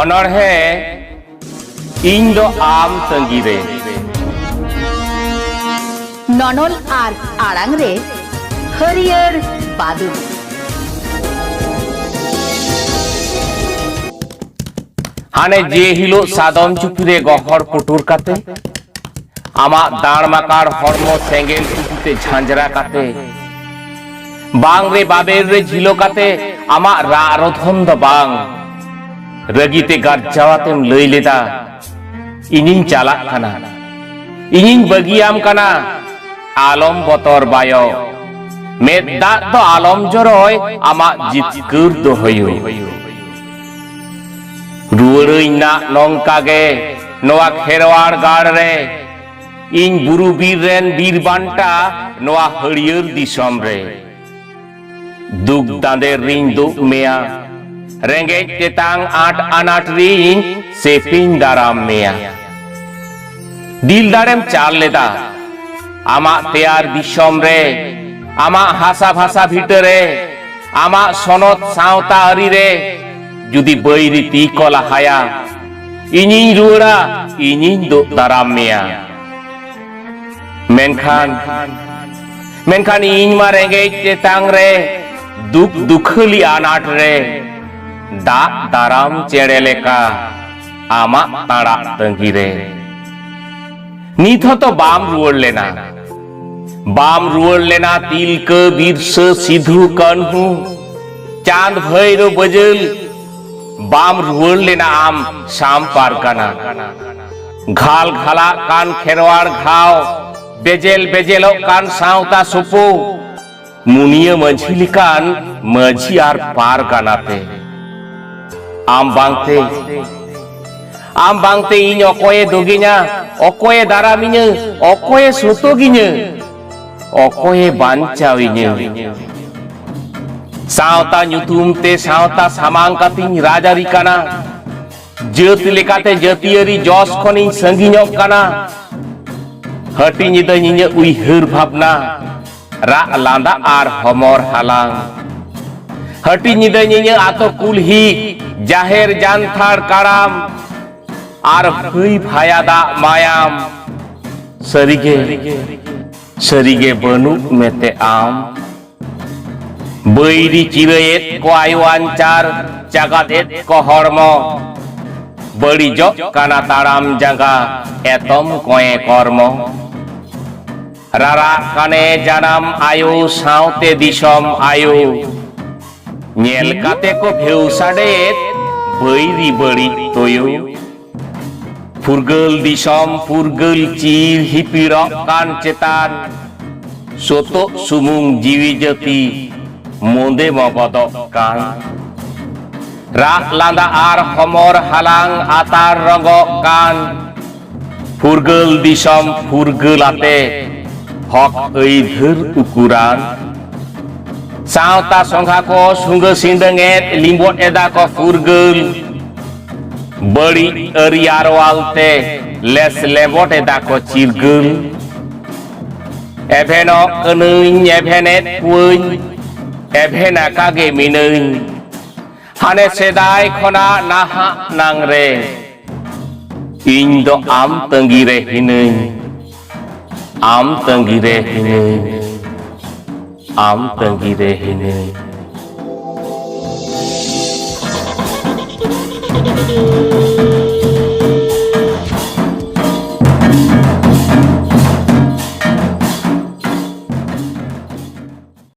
ᱚᱱᱚᱬᱦᱮ ᱤᱧ ᱫᱚ ᱟᱢ ᱛᱟᱺᱜᱤ ᱨᱮ ᱱᱚᱱᱚᱞ ᱟᱨ ᱟᱲᱟᱝ ᱨᱮ ᱦᱟᱹᱨᱭᱟᱹᱲ ᱵᱟᱫᱩ ᱦᱟᱱᱮ ᱡᱮ ᱦᱤᱞᱳᱜ ᱥᱟᱫᱚᱢ ᱪᱩᱯᱤ ᱨᱮ ᱜᱚᱦᱚᱲ ᱯᱩᱴᱩᱨ ᱠᱟᱛᱮ ᱟᱢᱟᱜ ᱫᱟᱲ ᱢᱟᱠᱟᱲ ᱦᱚᱲᱢᱚ ᱥᱮᱸᱜᱮᱞ ᱩᱛᱩᱛᱮ ᱡᱷᱟᱸᱡᱽᱨᱟ ᱠᱟᱛᱮ ᱵᱟᱝ ᱨᱮ ᱵᱟᱵᱮᱨ ᱨᱮ ᱡᱷᱤᱞᱚ ᱠᱟᱛᱮ ᱟᱢᱟᱜ ᱨᱟᱜ ᱨᱚᱫᱷᱚᱱ ᱫᱚ ᱵᱟᱝ ᱨᱟᱹᱜᱤᱛᱮ ᱜᱟᱨᱡᱟᱣᱟᱛᱮᱢ ᱞᱟᱹᱭ ᱞᱮᱫᱟ ᱤᱧᱤᱧ ᱪᱟᱞᱟᱜ ᱠᱟᱱᱟ ᱤᱧᱤᱧ ᱵᱟᱹᱜᱤᱭᱟᱢ ᱠᱟᱱᱟ ᱟᱞᱚᱢ ᱵᱚᱛᱚᱨ ᱵᱟᱭᱚ ᱢᱮᱫ ᱫᱟᱜ ᱫᱚ ᱟᱞᱚᱢ ᱡᱚᱨᱚᱭ ᱟᱢᱟᱜ ᱡᱤᱛᱠᱟᱹᱨ ᱫᱚ ᱦᱩᱭᱩᱜ ᱨᱩᱣᱟᱹᱲᱟᱹᱧ ᱱᱟᱜ ᱱᱚᱝᱠᱟ ᱜᱮ ᱱᱚᱣᱟ ᱠᱷᱮᱨᱣᱟᱲ ᱜᱟᱲ ᱨᱮ ᱤᱧ ᱵᱩᱨᱩ ᱵᱤᱨ ᱨᱮᱱ ᱵᱤᱨ ᱵᱟᱱᱴᱟ ᱱᱚᱣᱟ ᱦᱟᱹᱲᱭᱟᱹᱨ ᱫᱤᱥᱚᱢ ᱨᱮ ᱫᱩᱠ ᱫᱟᱸᱫᱮ ᱨᱤᱧ ᱫᱩᱜ ᱢᱮᱭᱟ ᱨᱮᱸᱜᱮᱡ ᱛᱮᱛᱟᱝ ᱟᱸᱴ ᱟᱱᱟᱴ ᱨᱤᱧ ᱥᱮᱯᱤᱧ ᱫᱟᱨᱟᱢ ᱢᱮᱭᱟ ᱫᱤᱞ ᱫᱟᱲᱮᱢ ᱪᱟᱞ ᱞᱮᱫᱟ ᱟᱢᱟᱜ ᱛᱮᱭᱟᱨ ᱫᱤᱥᱚᱢ ᱨᱮ ᱟᱢᱟᱜ ᱦᱟᱥᱟ ᱵᱷᱟᱥᱟ ᱵᱷᱤᱴᱟᱹ ᱨᱮ ᱟᱢᱟᱜ ᱥᱚᱱᱚᱛ ᱥᱟᱶᱛᱟ ᱟᱹᱨᱤ ᱨᱮ ᱡᱩᱫᱤ ᱵᱟᱹᱭᱨᱤ ᱛᱤ ᱠᱚ ᱞᱟᱦᱟᱭᱟ ᱤᱧᱤᱧ ᱨᱩᱣᱟᱹᱲᱟ ᱤᱧᱤᱧ ᱫᱩᱜ ᱫᱟᱨᱟᱢ ᱢᱮᱭᱟ ᱢᱮᱱᱠᱷᱟᱱ ᱢᱮᱱᱠᱷᱟᱱ ᱤᱧ ᱢᱟ ᱨᱮᱸᱜᱮᱡ ᱛᱮᱛᱟᱝ ᱨᱮ ᱫᱩᱠ ᱫᱩᱠᱷᱟᱹᱞᱤ ᱟᱱᱟᱴ ᱨᱮ ᱫᱟᱜ ᱫᱟᱨᱟᱢ ᱪᱮᱬᱮ ᱞᱮᱠᱟ ᱟᱢᱟᱜ ᱟᱲᱟᱜ ᱛᱟᱺᱜᱤ ᱨᱮ ᱱᱤᱛ ᱦᱚᱸᱛᱚ ᱵᱟᱢ ᱨᱩᱣᱟᱹᱲ ᱞᱮᱱᱟ ᱵᱟᱢ ᱨᱩᱣᱟᱹᱲ ᱞᱮᱱᱟ ᱛᱤᱞᱠᱟᱹ ᱵᱤᱨᱥᱟᱹ ᱥᱤᱫᱷᱩ ᱠᱟᱹᱱᱦᱩ ᱪᱟᱸᱫᱽ ᱵᱷᱟᱹᱭᱨᱚ ᱵᱟᱹᱡᱟᱹᱞ ᱵᱟᱢ ᱨᱩᱣᱟᱹᱲ ᱞᱮᱱᱟ ᱟᱢ ᱥᱟᱢ ᱯᱟᱨᱜᱟᱱᱟ ᱜᱷᱟᱞ ᱜᱷᱟᱞᱟᱜ ᱠᱟᱱ ᱠᱷᱮᱨᱣᱟᱲ ᱜᱷᱟᱣ ᱵᱮᱡᱮᱞ ᱵᱮᱡᱮᱞᱚᱜ ᱠᱟᱱ ᱥᱟᱶᱛᱟ ᱥᱩᱯᱩ ᱢᱩᱱᱤᱭᱟᱹ ᱢᱟᱹᱡᱷᱤ ᱞᱮᱠᱟᱱ ᱢᱟᱹᱡᱷᱤ ᱟᱨ ᱯᱟᱨᱜᱟᱱᱟ ᱛᱮ ᱟᱢ ᱵᱟᱝᱛᱮ ᱟᱢ ᱵᱟᱝᱛᱮ ᱤᱧ ᱚᱠᱚᱭᱮ ᱫᱚᱜᱤᱧᱟ ᱚᱠᱚᱭᱮ ᱫᱟᱨᱟᱢᱤᱧᱟᱹ ᱚᱠᱚᱭᱮ ᱥᱚᱛᱚᱜᱤᱧᱟᱹ ᱚᱠᱚᱭᱮ ᱵᱟᱧᱪᱟᱣᱤᱧᱟᱹ ᱥᱟᱶᱛᱟ ᱧᱩᱛᱩᱢ ᱛᱮ ᱥᱟᱶᱛᱟ ᱥᱟᱢᱟᱝ ᱠᱟᱛᱮᱧ ᱨᱟᱡᱽᱟᱹᱨᱤ ᱠᱟᱱᱟ ᱡᱟᱹᱛ ᱞᱮᱠᱟᱛᱮ ᱡᱟᱹᱛᱤᱭᱟᱹᱨᱤ ᱡᱚᱥ ᱠᱷᱚᱱᱤᱧ ᱥᱟᱺᱜᱤᱧᱚᱜ ᱠᱟᱱᱟ ᱦᱟᱹᱴᱤᱧ ᱮᱫᱟᱹᱧ ᱤᱧᱟᱹᱜ ᱩᱭᱦᱟᱹᱨ ᱵᱷᱟᱵᱽᱱᱟ ᱨᱟᱜ ᱞᱟᱸᱫᱟ ᱟᱨ ᱦᱚᱢᱚᱨ ᱦᱟᱞᱟᱝ ᱦᱟᱹᱴᱤ ᱧᱤᱫᱟᱹ ᱧᱤᱧᱟᱹ ᱟᱛᱳ ᱠᱩᱞᱦᱤ ᱡᱟᱦᱮᱨ ᱡᱟᱱᱛᱷᱟᱲ ᱠᱟᱲᱟᱢ ᱟᱨ ᱵᱷᱟᱹᱭ ᱵᱷᱟᱭᱟ ᱫᱟᱜ ᱢᱟᱭᱟᱢ ᱥᱟᱹᱨᱤᱜᱮ ᱥᱟᱹᱨᱤᱜᱮ ᱵᱟᱹᱱᱩᱜ ᱢᱮᱛᱮ ᱟᱢ ᱵᱟᱹᱭᱨᱤ ᱪᱤᱨᱟᱹᱭᱮᱫ ᱠᱚ ᱟᱭᱳ ᱟᱧᱪᱟᱨ ᱪᱟᱜᱟᱫ ᱮᱫ ᱠᱚ ᱦᱚᱲᱢᱚ ᱵᱟᱹᱲᱤᱡᱚᱜ ᱠᱟᱱᱟ ᱛᱟᱲᱟᱢ ᱡᱟᱸᱜᱟ ᱮᱛᱚᱢ ᱠᱚᱭᱮ ᱠᱚᱨᱢᱚ ᱨᱟᱨᱟᱜ ᱠᱟᱱᱮ ᱡᱟᱱᱟᱢ ᱟᱭᱳ ᱥᱟᱶᱛᱮ ᱫᱤᱥᱚᱢ ᱟᱭᱳ ᱧᱮᱞ ᱠᱟᱛᱮ ᱠᱚ ᱵᱷᱮᱣ ᱥᱟᱰᱮᱭᱮᱫ ᱵᱟᱹᱭᱨᱤ ᱵᱟᱹᱲᱤᱡ ᱛᱳᱭᱳ ᱯᱷᱩᱨᱜᱟᱹᱞ ᱫᱤᱥᱚᱢ ᱯᱷᱩᱨᱜᱟᱹᱞ ᱪᱤᱨ ᱦᱤᱯᱤᱲᱚᱜ ᱠᱟᱱ ᱪᱮᱛᱟᱱ ᱥᱚᱛᱚᱜ ᱥᱩᱢᱩᱝ ᱡᱤᱣᱤ ᱡᱟᱹᱛᱤ ᱢᱚᱸᱫᱮ ᱢᱟ ᱵᱚᱫᱚᱜ ᱠᱟᱱ ᱨᱟᱜ ᱞᱟᱸᱫᱟ ᱟᱨ ᱦᱚᱢᱚᱨ ᱦᱟᱞᱟᱝ ᱟᱛᱟᱨ ᱨᱚᱜᱚᱜ ᱠᱟᱱ ᱯᱷᱩᱨᱜᱟᱹᱞ ᱫᱤᱥᱚᱢ ᱯᱷᱩᱨᱜᱟᱹᱞ ᱟᱛᱮ ᱦᱚᱠ ᱟᱹᱭᱫᱷᱟᱹᱨ ᱩᱠᱩᱨᱟᱱ ᱥᱟᱶᱛᱟ ᱥᱚᱸᱜᱷᱟ ᱠᱚ ᱥᱩᱸᱜᱟᱹ ᱥᱤᱸᱰᱟᱹᱝ ᱮᱫ ᱞᱤᱸᱵᱚᱫ ᱮᱫᱟ ᱠᱚ ᱯᱷᱩᱨᱜᱟᱹᱞ ᱵᱟᱹᱲᱤᱡ ᱟᱹᱨᱤ ᱟᱨᱣᱟᱞ ᱛᱮ ᱞᱮᱥ ᱞᱮᱵᱚᱴ ᱮᱫᱟ ᱠᱚ ᱪᱤᱨᱜᱟᱹᱞ ᱮᱵᱷᱮᱱᱚᱜ ᱠᱟᱹᱱᱟᱹᱧ ᱮᱵᱷᱮᱱᱮᱫ ᱠᱚᱣᱟᱹᱧ ᱮᱵᱷᱮᱱ ᱟᱠᱟᱜᱮ ᱢᱤᱱᱟᱹᱧ ᱦᱟᱱᱮ ᱥᱮᱫᱟᱭ ᱠᱷᱚᱱᱟᱜ ᱱᱟᱦᱟᱜ ᱱᱟᱝ ᱨᱮ ᱤᱧ ᱫᱚ ᱟᱢ ᱛᱟᱺᱜᱤ ᱨᱮ ᱦᱤᱱᱟᱹᱧ ᱟᱢ ᱛᱟᱺᱜᱤ ᱨᱮ ᱦᱤᱱᱟᱹᱧ ᱟᱢ ᱛᱟᱺᱜᱤ ᱨᱮ ᱦᱤᱱᱟᱹᱧ